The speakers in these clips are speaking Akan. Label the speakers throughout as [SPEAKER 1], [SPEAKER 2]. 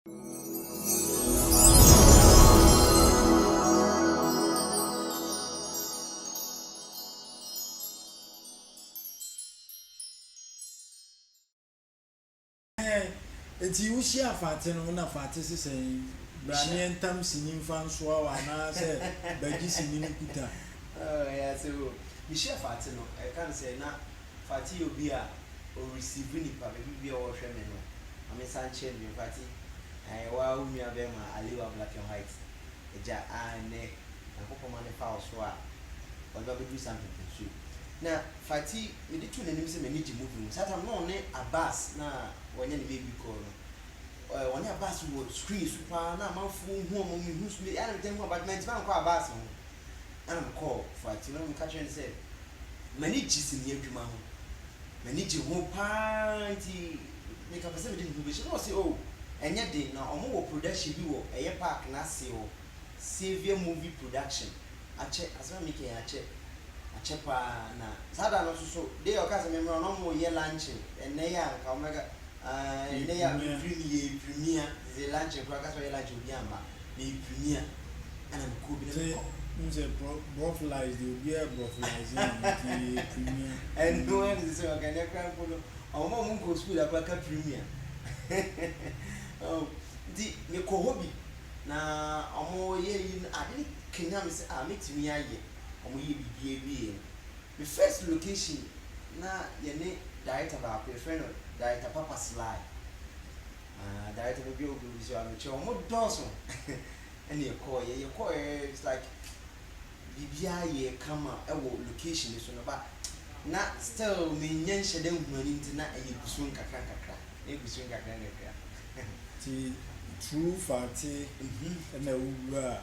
[SPEAKER 1] Eti wo hyia Fati no na Fati se sɛ bra ne yɛn tam sini mfa nsoa wo anaa sɛ bɛgye sini no kuta. Oh ɛyɛ ase
[SPEAKER 2] o. Me hyia Fati no ɛka no sɛ na Fati obi a o receive nipa baabi bia ɔwɔ hwɛ me no ma me nsa nkyerɛ me Fati ae wo ara wo nua bɛɛma Aliwa black and white agya a nnɛ Nyankopɔn ma no pa wo so a ɔde ba bɛduru saa mpɛmpɛnsuo yi na Fati mede to n'anim sɛ m'ani gye movie no ho saa tam no ɔne Abass na wɔnyɛ ne baby girl no eh ɔne Abass wɔ screen so paa na amanfoɔ hu ɔmo me hu so me ɛna me tɛn hu Abass mantimi ankɔ Abass ho ɛna me kɔɔ Fati na me ka kyerɛ no sɛ M'ani gye sini adwuma ho. M'ani gye ho paa nti meka pɛ sɛ mede me ho bɛhyɛ mu. Na ɔse oh, ɛnyɛ den. Na ɔmo wɔ production bi wɔ ɛyɛ park no ase hɔ, Saviour Movie Production. Akyɛ, asɛm a meka yi akyɛ. Akyɛ paa. Na saa da no nso so, day a ɔkaa sɛ memmra no na ɔmo reyɛ luncheon. Ɛnnɛ yi a nka ɔmo bɛka ah, ɛnnɛ yi a mefiri mu yi yɛ adwumia, nti luncheon koraa ɔkaa sɛ ɔyɛ luncheon obiara amma. meyɛ premier ɛna me kuo bi na me kɔ. Wohu sɛ
[SPEAKER 1] brɔflies deɛ obiara yɛ brɔflies na nti yɛ premier. Ɛno ɛna sɛ sɛ
[SPEAKER 2] ɔka nɛ kora mpo no ɔmo a ɔmo nkɔ school da kora ka premier nti me kɔ hɔ bi na ɔmo yɛ ayi no ade no kanya me sɛ ah mɛtumi ayɛ ɔmo yɛ biribi awieɛ no me first location na yɛne director baako yɛfrɛ no director papa sly. Ah director no bio bio nso a me kyerɛ wɔn dɔɔso ɛna yɛkɔɔ yɛ yɛkɔɔ yɛ it's like biribiara yɛ kama ɛwɔ location no so no ba na still me nyɛ nhyɛ dɛ nhunu anim ti na ɛyɛ gu so nkakra nkakra na egu so nkakra nkakra.
[SPEAKER 1] Ti true fate ɛna wowura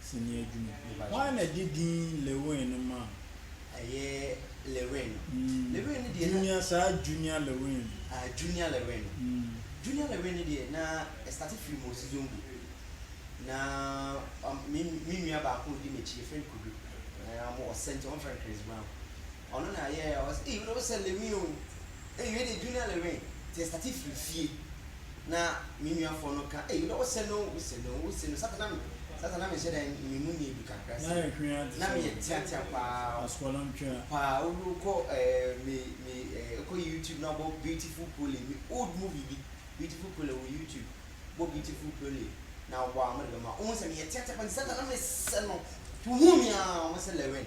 [SPEAKER 1] sini adwuma hwan na ɛde din Lewin no maa wo. Ɛyɛ
[SPEAKER 2] Lewin no. Lewin no deɛ na. Junior saa Junior
[SPEAKER 1] Lewin no. Ah Junior Lewin
[SPEAKER 2] no. Junior Lewin no deɛ na ɛstate firi Mosi Zongo. Na me me nua baako a ɔdi m'akyi yɛfrɛ no Kudu. Ɔsɛ nti wɔfrɛ no Chris Brown. Ɔno na yɛɛ ɔsɛ ee wode wosɛ Lewin o. Ei wei deɛ Junior ne win nti ɛstate firi fie na me nuafoɔ no ka ei wodɛ wose no wose no wose no sata na me sata na menhyɛ dɛn me mu nyɛ du kakra se na meyɛ teatea paa
[SPEAKER 1] paa wobi wokɔ
[SPEAKER 2] eh, me me eh, wokɔ YouTube na wobɔ beautiful pole me old movie bi beautiful pole wɔ YouTube bɔ beautiful pole na wobɔ a wɔde bɛma wohu sɛ meyɛ teatea paa nti sata na mesɛ no nti wohuu me aa wɔse Lewin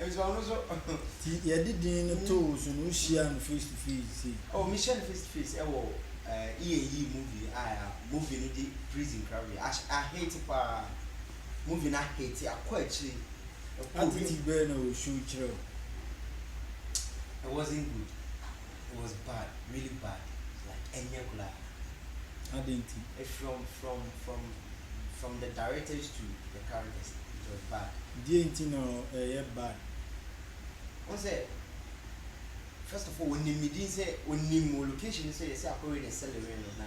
[SPEAKER 2] Nso ɔno so. Ti yɛ de
[SPEAKER 1] din no to wo so no wo hyia no face to face sei. Oh me hyia no face to
[SPEAKER 2] face ɛwɔ eh E and E movie a ya movie no de prison kra wie a a hate paa movie no a hate akɔ akyire ɛkɔ wim. Attitude
[SPEAKER 1] bɛɛ na wɔ show kyerɛ wo.
[SPEAKER 2] It wasn't good. it was bad really bad like ɛnyɛ koraa. Adɛn
[SPEAKER 1] nti? From from from
[SPEAKER 2] from the directors to the characters it was bad. Deɛ nti na
[SPEAKER 1] ɛyɛ bad?
[SPEAKER 2] Wohu sɛ first of all onim ne din sɛ onim wɔ location no sɛ yɛsɛ akɔwe ne sɛlewere no na.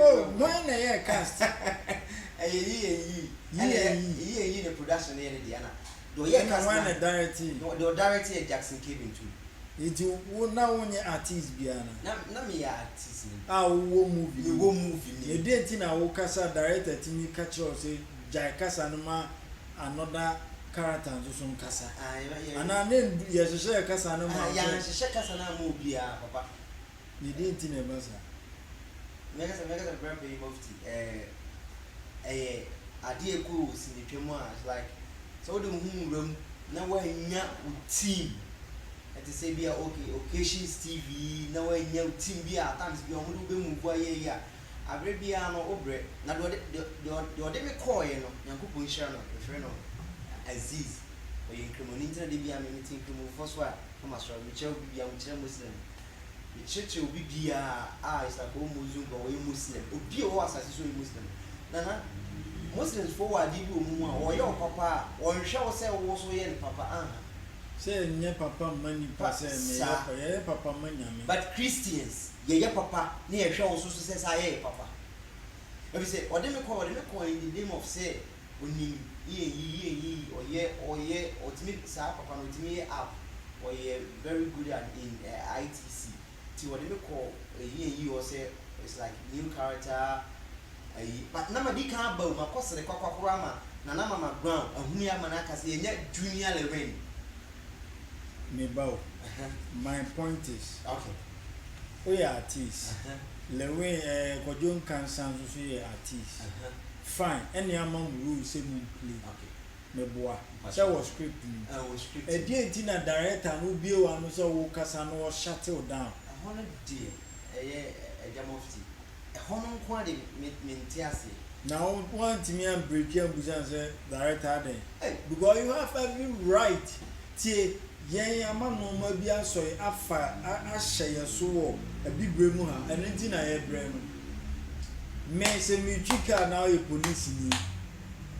[SPEAKER 2] Oh, hwan na ɛyɛɛ
[SPEAKER 1] cast?
[SPEAKER 2] Ɛna hwan na
[SPEAKER 1] directee?
[SPEAKER 2] Enti wo
[SPEAKER 1] na wonyɛ artiste biara ana?
[SPEAKER 2] A wowɔ movie
[SPEAKER 1] mu? Na ɛdeɛn
[SPEAKER 2] nti na wo
[SPEAKER 1] kasa a director tumi ka kyerɛ wo sɛ gyae kasa no ma another character nso so nkasa? Anaa na yɛhyehyɛɛ kasa no maa
[SPEAKER 2] wo sɛ. Na deɛ nti
[SPEAKER 1] na ɛba saa. Mɛka
[SPEAKER 2] sɛ mɛka sɛ brɛ panyin mufti ɛɛ ɛyɛ adeɛ ɛkɔ wɔ sinitwa mu a it's like sɛ wode wo ho wura mu na woannya wo team ɛte sɛ bi a okay occasions tv na woannya wo team bi a at times bi a wɔde wobɛ move ayɛ yi a abere biara no wobrɛ na deɛ ɔde deɛ deɛ deɛ ɔde me kɔɔeɛ no nyankopɔn nhyira no mefrɛ no aziz ɔyɛ nkramoni nti na de biara me mete nkramofoɔ so a Na masɔre, mekyerɛ obi biara, mekyerɛ Muslim, mekyerɛkyerɛ obi biara a it's like ɔwɔ Muslim kura, ɔyɛ Muslim, obi a ɔwɔ asase so ɔyɛ Muslim. Nana, Muslims foɔ wɔ adeɛ bi wɔ wɔn mu a, wɔyɛ wo papa a, wɔnhwɛ wo sɛ wo nso woyɛ no papa, anha. Sɛ yɛnyɛ
[SPEAKER 1] papa mma nnipa Pa, sɛ meyɛ saa. pa, yɛyɛ papa ma Nyame. But Christians,
[SPEAKER 2] yɛyɛ papa na yɛhwɛ wo nso so sɛ saa yɛyɛ papa. Ɛfiri sɛ, ɔde me kɔe, ɔde me kɔe in the name of sɛ onim yɛ nyi yɛ nyi ɔyɛ ɔyɛ ɔtumi saa papa no ɔtumi yɛ app ɔyɛ very good at in ITC nti ɔde me kɔ yɛ nyi nyi hɔ sɛ it's like new character ayi but na ma di kan aba o ma kɔ sere kwakwa koro ama na na ma ma ground ahuni ama na aka sɛ yɛ nya junior lewin.
[SPEAKER 1] Me ba o my point is okay woyɛ artist lewin ɛɛ kwadwo nkansa nso so yɛ artist. Fine, ɛnneɛ ama mo rule sɛ mo mplay. Okay. Meboa. Mpakyɛw. Sɛ wɔ script no mu. Ɛwɔ script mu. Ɛdeɛn
[SPEAKER 2] nti na director
[SPEAKER 1] no wobue w'ano sɛ wokasa no ɔ shut wo down? Ɛhɔ no deɛ
[SPEAKER 2] ɛyɛ Agya Mufti. Ɛhɔ no nko ara deɛ me mente aseɛ. Na wo
[SPEAKER 1] woantumi an breaki ambusa no sɛ director adɛn? Ei! Because you have every right tie. Yɛn ama nnoɔma bi asɔ yɛn afa ahyɛ yɛn so wɔ abibire mu ha ɛno nti na yɛbrɛ no me sɛ metwi car na woyɛ police ni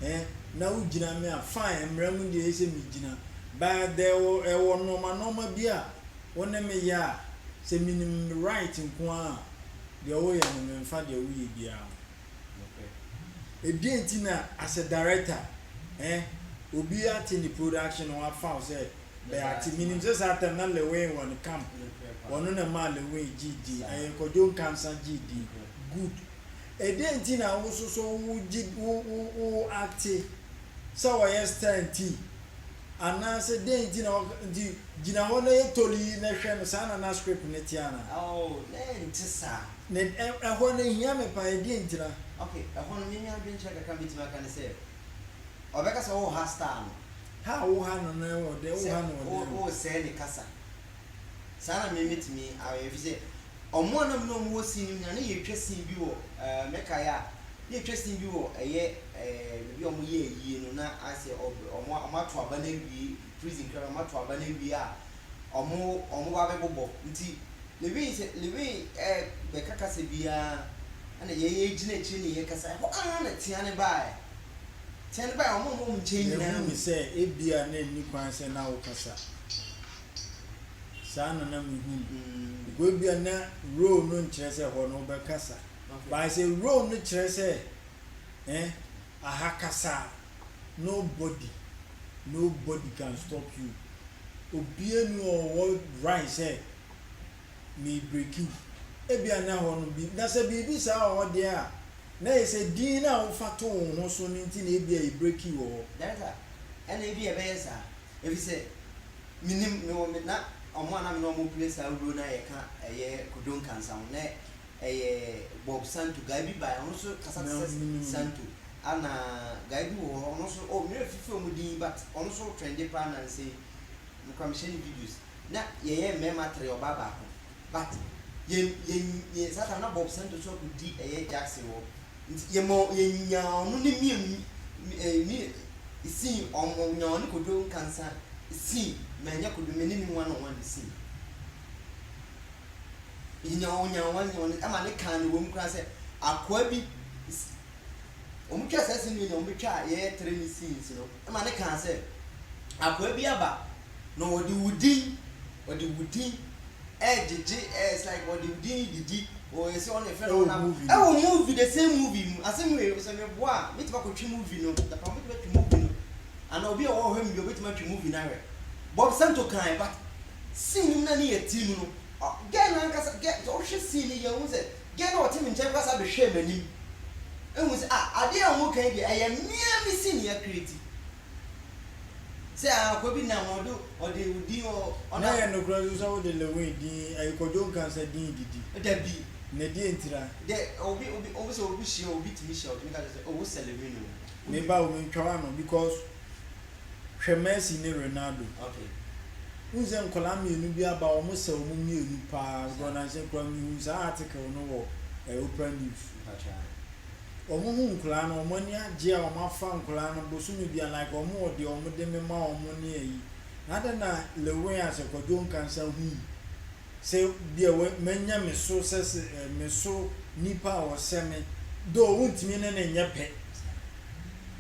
[SPEAKER 1] eh na wogyina me a fine mmara mu deɛ ɛsɛ megyina but there ɛwɔ ɛwɔ nnoɔma nnoɔma bi a wo ne me yɛ a sɛ menim me right nko ara a deɛ woyɛ no memfa deɛ woyɛ biara ho. Ebien nti na as a director eh obi ate ne production no wafa wo sɛ Bɛate menim sɛ saa tam na Lewin wɔ ne camp ɔno na ɛmaa Lewin gyee din ɛyɛ Kwadwo Nkansah gyee din good Ɛdeɛn nti na wo nso so wo gye wo wo wo ate sɛ ɔyɛ star nti Anaase dɛn nti na ɔka nti gyina hɔ na yɛ tolii na hwɛ no saa na na script no te anaa? Oh na ɛnte
[SPEAKER 2] saa. Na ɛ ɛhɔ
[SPEAKER 1] no ehia me paa ɛdeɛn nti na. Ok ɛhɔ no me nua
[SPEAKER 2] dwenkyerɛ kakra mɛtumi aka ne sɛ ɔbɛka sɛ wo ha star no. Ha a wo ha no
[SPEAKER 1] no wɔ dɛn wo ha no wɔ dɛn o. Sɛ wo wo sɛɛ ne kasa.
[SPEAKER 2] Saa na me metumi ayɛ ɛfiri sɛ ɔmo a na me ne ɔmo wɔ scene no mu nyinaa na yɛtwa scene bi wɔ ɛɛ mɛkae a na yɛtwa scene bi wɔ ɛyɛ ɛɛ baabi a ɔmo yɛ ayie no na ayɛ sɛ ɔb ɔmo a ɔmo ato aba no awie prison koraa no ɔmo ato aba no awie a ɔmo ɔmo ba abɛbobɔ nti Levine sɛ Levine ɛɛ bɛka kasa bi ara ɛna yɛn yɛ gyina akyire ne yɛkasa ɛhɔ ara na tea no baeɛ tea no baeɛ ɔmo a ɔmo wɔ me nkyɛn nyinaa Yɛhuu hu. sɛ ebia
[SPEAKER 1] na enni kwan sɛ na wokasa. saa na na me hu no mm. because bia na role no nkyerɛ sɛ hɔ no wobɛka sa okay. but sɛ role no kyerɛ sɛ eh, aha kasa nobody nobody can stop you obia ni ɔwɔ right sɛ me break you ebia na hɔ no bi na sɛ biribi saa wɔ hɔ deɛ a na yɛ sɛ din no a wofa to wo ho so no nti na ebia yɛ break you wɔ hɔ
[SPEAKER 2] ɛna ebi yɛbɛyɛ saa Efisɛ minim, mewɔ me, na wɔn a na me ne wɔn pere saa wuro no a yɛka ɛyɛ Kojo Nkansah ho, na ɛyɛ Bob Santo, guy bi bae, ɔno nso kasa te sɛ Santo, ɛna guy bi wɔ hɔ, ɔno nso, oh, merefifiri wɔn din, but ɔno nso trende paa nnansa yi, mekura mehyɛ ne videos, na yɛyɛ mmarima tre, ɔbaa baako. but yɛn yɛn yɛn saa saa na Bob Sento so akɔdi ɛyɛ Jackson hɔ nti yɛma yɛnyaa ɔno ne Mia eh, mi sii ɔmo nyaa ɔne Kojo Nkansa sii manya Kojo me ne ne one on one sii yɛnya ɔnya one on one ɛma ne kaa ne wɔm koraa sɛ akoa bi ɔmo twaa saa sini na ɔmo twaa yɛyɛ tere ne scenes no ma no kaa sɛ, Akoa bi aba, na ɔde wo din, ɔde wo din regyegye, eh, it's like ɔde wo din redidi, oh, ɛsɛ ɔne fɛ no, ɔnam, ɛwɔ movie, the same movie mu, asɛm wei, sɛ meboa a, mɛtumi akɔtwe movie no, Japan, mɛtumi atwe movie no, anaa obi a ɔwɔ hɔ mmea, ɔbɛtumi atwe movie no ahwɛ, Bob Santo kaa yɛ, but scene no mu na ne yɛ tirim no, ɔ, girl no ankasa, girl, sɛ wohwɛ scene no yie a, wohu sɛ Gay no a ɔte me nkyɛn kora san behwɛɛ m'anim hui sɛ, Ah, ade a woreka yi deɛ, ɛyɛ me ara me sini akreti. Sɛ ah, akoa bi nam hɔ, ɔde, ɔde wo din, ɔ, ɔnam. Na ɛyɛ nokorɛ nso
[SPEAKER 1] sɛ wode Lewin din ayi Kwadwo nka sɛ din didi? Dabi. Na ɛdeɛ
[SPEAKER 2] ntira?
[SPEAKER 1] Dɛ, obi, obi,
[SPEAKER 2] obi sɛ obi hyia, obi tumi hyia, ɔtumi ka kyerɛ wo sɛ, Oh, wosɛ Lewin o. Wo Me ba o, mentwa
[SPEAKER 1] w'ano because Hwɛ Messi ne Ronaldo. Okay.
[SPEAKER 2] Wohu sɛ
[SPEAKER 1] nkwadaa mmienu bi aba a wɔsɛ wɔn mmienu paa nkorɔ na nhyɛ koraa mehuu saa article no wɔ eh, Oprah News. Wɔn hu nkwadaa no wɔn ani agye a wɔn afa nkwadaa no bosome bia like wɔn wɔ deɛ wɔn de mema wɔn ne ayi. Na adɛn na Lil Wayne asɛ Kwadwo Nkansah hui Sɛ deɛ wɔ manya me so sɛ sɛ eh, me so nipa a ɔsɛ me Though wontumi ne no nyɛ pɛ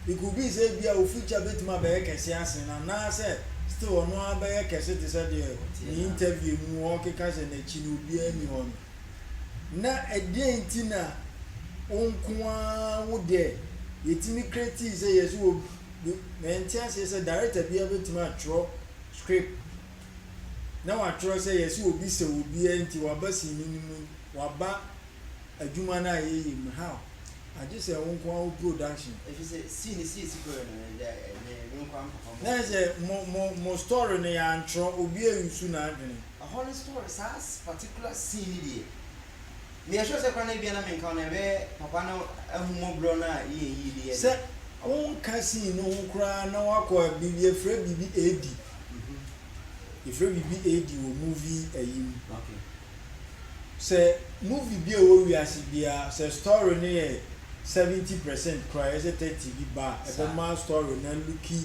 [SPEAKER 1] It could be sɛ ebia wo future bɛtumi abɛyɛ kɛse asen no Anaasɛ still ɔno ara bɛyɛ kɛse te sɛ deɛ ne interview mu ɔrekeka sɛ n'akyi no obiara nni hɔ no Na ɛdeɛn nti na wo nko ara wo deɛ yɛtumi creatii sɛ yɛse obi Mente aseɛ sɛ director biara bɛtumi atwerɛ script na wɔatwerɛ sɛ yɛse obi sɛ obi a nti waba sini no mu yi, waba adwuma no a yɛyɛ mu, how? Agye sɛ wo nko ara wo production. Ɛfiri sɛ sii no
[SPEAKER 2] sii sukuu no no dɛ ɛnyɛ me nko ara mpapa mo.
[SPEAKER 1] Na ɛsɛ mo mo mo story no yɛantwerɛ obi a nsu n'adwene. Ɛhɔ no story
[SPEAKER 2] saa particular sii no deɛ Nea ɛsure sɛ koraa na ebia na menka wo no, ɛbɛyɛ papa no ahummɔborɔ no a yɛn yii no yɛ Sɛ den. wonka
[SPEAKER 1] sii no ho koraa na woakɔ a, biribi, yɛfrɛ biribi Edi. Yɛfrɛ biribi Edi wɔ movie ayi mu. Ok. Sɛ movie bi a ɛwɔ wiase biara, sɛ story no yɛ seventy percent koraa a, ɛyɛ sɛ thirty bi ba a, Saa. ɛbɛma story no alooki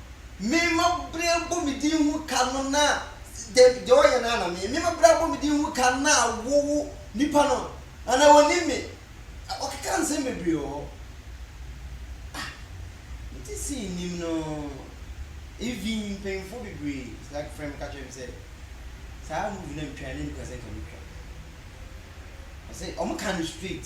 [SPEAKER 2] Me ma bere abɔ me din ho ka no na deɛ deɛ ɔyɛ no ana me me ma bere abɔ me din ho ka na wo wo nipa no ana onim me ɔkeka nsɛm bebree wɔ hɔ ah me ti si nim no even mpanyinfoɔ bebree saa frɛ me ka kyerɛ me sɛ saa movie na metwa ne nika sɛ nka metwa ɔsɛ ɔmo ka no straight.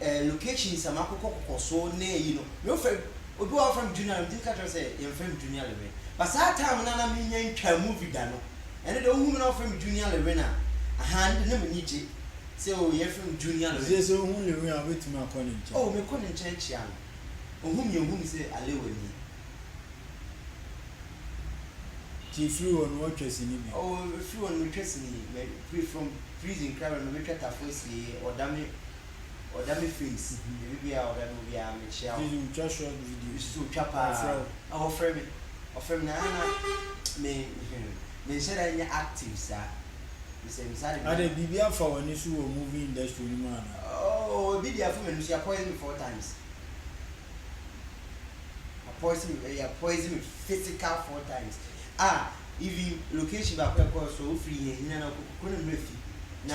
[SPEAKER 2] eh, location sa ma kokɔ kokɔ so na eyi no me ofrɛ obi wa ofrɛ me junior na me timi ka kyerɛ sɛ yɛn frɛ me junior lewin but saa time na na me nya ntwa movie da no ɛne de ohu me na ofrɛ me junior lewin a ahaa ne de na m'ani gye sɛ o yɛ frɛ me junior lewin ɛsɛ sɛ ohu lewin a
[SPEAKER 1] obetumi akɔ ne nkyɛn oh me kɔ ne nkyɛn kyia
[SPEAKER 2] no ohu me ohu me sɛ alewa nie.
[SPEAKER 1] Ti efiri hɔ no ɔtwa sini bi. Oh efiri hɔ no me twa
[SPEAKER 2] sini me firi from prison kra bɛ no me bɛ twa tafo asieɛ ɔda me Ɔda me face baabi biara a ɔda no obiara mekyia wo. Video twa short
[SPEAKER 1] video. Me so twa paa. Ɔfrɛ
[SPEAKER 2] wo. Ah ɔfrɛ me ɔfrɛ me na na me hmm me nhyɛ da nyɛ active saa. Me sɛ me saa de me. Adɛn biribi afa w'ani
[SPEAKER 1] so wɔ movie industry no mu anaa? Oh ebi
[SPEAKER 2] deɛ afa m'ani so yɛakɔyɛ me four times. Poison yɛ poison physical four times a even location baako a ɛkɔɔ so wofiri yɛn hia na kɔ kɔ ne mmerɛ fi na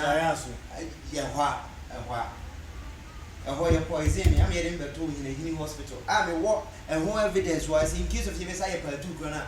[SPEAKER 2] yɛ hɔ
[SPEAKER 1] a ɛhɔ a
[SPEAKER 2] ɛhɔ yɛ poison me ama yɛde me bɛtoo hinahini hospital a mewɔ ɛho evidence wɔ ase in case of yɛbɛsa yɛ part two koraa no a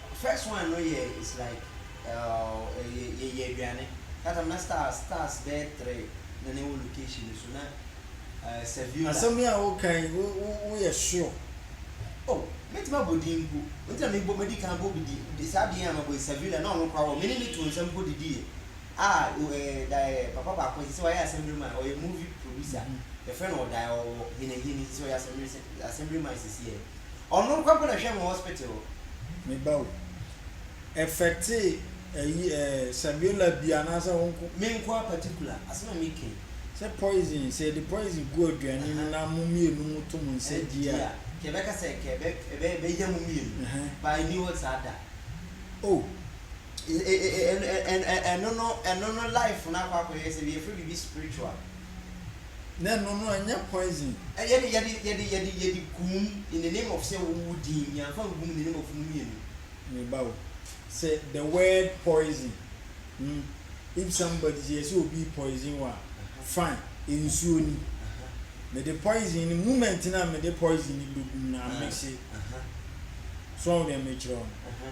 [SPEAKER 2] First one no yɛ it's like uh, yɛ yɛ yɛ aduane that time na stars stars bɛyɛ three na na ɛwɔ location no so na uh, Saviola. Asɛm yi a woka
[SPEAKER 1] yi wo wo woyɛ sure. Oh
[SPEAKER 2] mɛtumi abɔ din mpo nti na mebɔ madi kan bɔ bi di saa din a mabɔ yi Saviola na ɔno koraa wɔ me ne no too nsa mpo didiiɛ ah oh eh da eh papa baako sɛ sɛ wayɛ assembly man ɔyɛ movie producer yɛfrɛ no ɔdae ɔwɔ hinahini sɛ sɛ ɔyɛ assembly assembly man sisi eh. Ɔno nkwa mpo na ɛhwɛ mo hospital hɔ. Me ba o.
[SPEAKER 1] Ɛffecte ɛyi ɛɛ Sabiola bi anaasɛ wo nko? Me nko ara particular, asɛm a me kɛn. Sɛ poison, sɛ yɛde poison gu aduane mu na mo mmienu mo to mo nsa di a. Ɛdidi a, nka ɛbɛka sɛ nka ɛbɛ
[SPEAKER 2] ɛbɛ ɛbɛya mo mmienu, but ɛnni hɔ saa da. Oh.
[SPEAKER 1] Ɛ ɛ ɛ ɛ
[SPEAKER 2] ɛno no ɛno no life no akɔ akɔyɛ sɛ yɛfrɛ biribi spiritual.
[SPEAKER 1] Na ɛno no ɛnyɛ poison. Yɛde yɛde yɛde
[SPEAKER 2] yɛde yɛde gum in the name of sɛ wo wo din yɛnfa ngum in the name of mo mmienu. Me ba o
[SPEAKER 1] sɛ the word poison hmm if somebody sɛ yɛsɛ obi poison wo a fine nsuo ni mede poison no moment no a mede poison no bɛ gum no amexe so wɔn deɛ mekyerɛ wo no.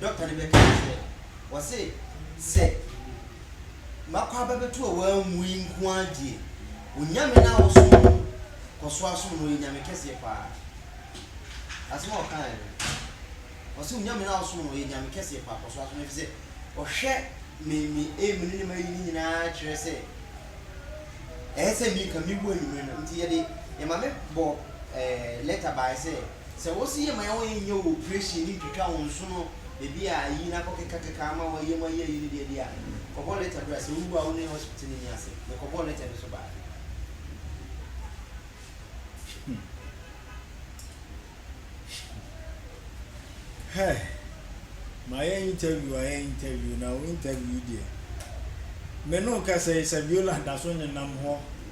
[SPEAKER 2] dɔkta no bɛka ne sɛ, wɔse sɛ makɔ aba bɛto a woammue nko ara die, wo Nyame no a wosom no no, kɔ so ara som no, ɔyɛ Nyame kɛseɛ pa ara. Asɛm a ɔkaeɛ no, ɔse wo Nyame no a wosom no, ɔyɛ Nyame kɛseɛ pa ara, kɔ so ara som no, ɛfiri sɛ ɔhwɛ me me aim no ne m'ayi no nyinaa kyerɛ sɛ ɛyɛ sɛ me nka mewu anwummerɛ no, nti yɛde, yɛn maame bɔ ɛɛ lɛta baeɛ sɛ, Sɛ wɔse yɛ ma yɛ wɔn nyɛ wo operation ne ntwitwa wo nsono baabi a ayi na akɔkekakeka ama wɔayɛ mu ayɛ ayi no deɛ deɛ a, kɔbɔ letter bra. Sɛ wowu a wo ne hospital no nni asɛm. Mekɔbɔɔ letter no nso baeɛ.
[SPEAKER 1] Hɛ! Mayɛ interview ayɛ interview na wo interview yi deɛ, me ne wo kasa yi Saviola da so nenam hɔ.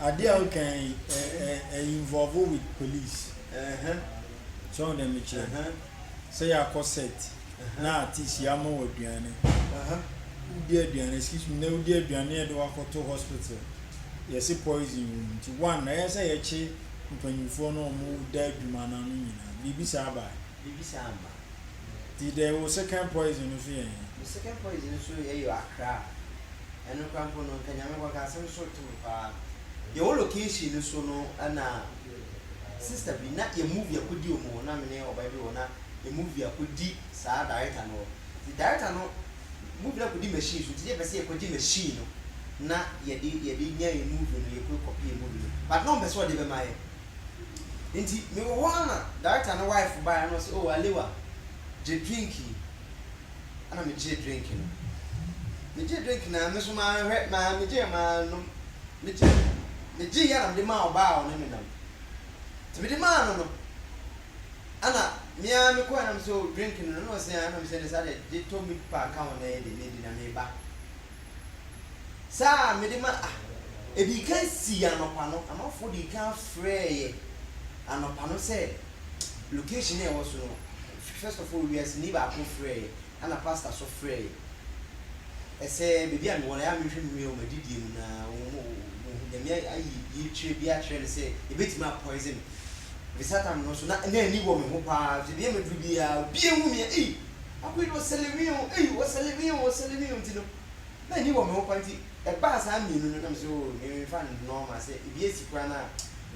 [SPEAKER 1] Adeɛ a woka yi ɛ ɛ ɛ involve with police. Ɛhɛn. So wɔn deɛ mekyerɛ. Ɛhɛn. Sɛ yɛakɔ set. Ɛhɛn. Na artist yɛama wɔ aduane. Ɛhɛn. Wodi aduane excuse me na wodi aduane na yɛde wakɔto hospital. Yɛse poison wɔ mu nti one ɛyɛ sɛ yɛkye mpanyinfoɔ no wɔn da adwuma no ano nyinaa. Biribi saa bae.
[SPEAKER 2] Bibi saa
[SPEAKER 1] mma. Nti dɛn wo
[SPEAKER 2] second
[SPEAKER 1] poison no so yɛ hen? Me second
[SPEAKER 2] poison no so yɛ yɔ Accra. Ɛno koraa mpo no nka Nyame kɔ nka asɛm so to me paa. Yɛ wɔ location no so no na sister bi na yɛ movie akɔdi wɔn hɔ na me ne ɔbaa bi wɔ hɔ na yɛ movie akɔdi saa director no hɔ. Nti director no movie no akɔdi machine so nti yɛ pɛ sɛ yɛ kɔ gye machine no na yɛde yɛde nya yɛ movie no yɛ kɔ kɔpɛ yɛ movie no but na ɔmpɛ sɛ ɔde bɛma yɛ. Nti me wɔ hɔ ana director no wife baeɛ na ɔse oh Alewa gye drink yi ana me gyee drink no me gyee drink no a me nso maa hwɛ maa me gyeeɛ maa nom me gye me gyeeɛ ana mede maa ɔbaa a ɔne me nam nti mede maa no no ana me ara me kɔɛ na me sɛ oh drink no no na ɔse ana me sɛ ne saa deɛ gye tɔ meat pie ka ho na ɛyɛ deɛ medi na meba Saa a mede ma ah. Ɛdii kan sii anɔpa no, amanfoɔ dii kan frɛeɛ anɔpa no sɛ location a ɛwɔ so no, first of all wiaseni baako frɛeɛ, ɛna pastor nso frɛeɛ. Ɛsɛ baabi a mewɔ no, ɛyɛ a menhwɛ menua wɔ m'adidie mu na Nyame ayi yetire bi akyerɛ no sɛ ɛbɛtumi a poison me. Ɛfiri saa time no nso na na ani wɔ me ho paa, ɛfiri sɛ baabi a maduru biara obiara hu me a ei! Akoyi no ɔsɛlɛwii o, ei ɔsɛlɛwii o, ɔsɛlɛwii o nti no na ani wɔ me ho paa nti ɛbaa saa mmienu no na mese oo me memfa nnɔ ma sɛ ebi asi koraa no a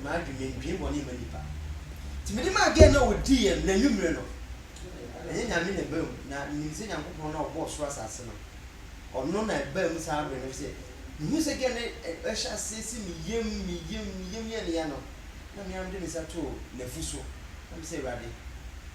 [SPEAKER 2] m'adwene mendwen bɔne mma nnipa nti menim a gɛɛ na ɔdiiɛ no n'anwummere no ɛnyɛ Nyame na ɛbaa mu na menim sɛ Nyankopɔn no a ɔbɔɔ soro asase no ɔno na ɛbaa mu saa bere no ɛfiri sɛ mehu sɛ gɛɛ no ɛhyɛ aseɛ si me yam me yam me yam yɛ ne ya no na me ara mede me nsa too n'afu so na mesɛ Awurade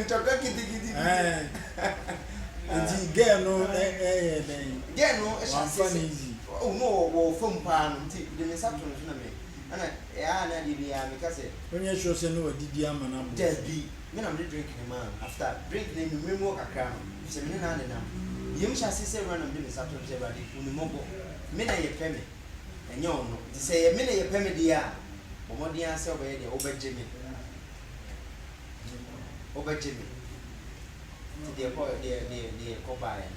[SPEAKER 2] ntɔkwa gidigidi bi eh, ah. nti
[SPEAKER 1] girl no ɛyɛ dɛn
[SPEAKER 2] girl no hyɛ aseɛ sɛ
[SPEAKER 1] ɔwɔ mu wɔ wɔ
[SPEAKER 2] fam paa no nti de me nsa to no so na me ɛna ɛyɛ a na adeɛ bi a meka sɛ wonyɛ sure sɛ ne
[SPEAKER 1] wadidi ama no abo dabi me na mede
[SPEAKER 2] drink ne maa no after drink ne memmerɛ mu wɔ kakra no sɛ me ne no anenam yɛm hyɛ aseɛ sɛ awura na mede me nsa to no sɛ awurade hu ne mmɔbɔ me na yɛpɛ me ɛnyɛ ɔno. Nti sɛ ɛyɛ me na yɛpɛ me deɛ a, bɔ mmɔden ara sɛ wobɛyɛ deɛ wobɛgye me. Wobɛgye me. Nti deɛ ɛkɔ deɛ deɛ deɛ ɛkɔ baeɛ no.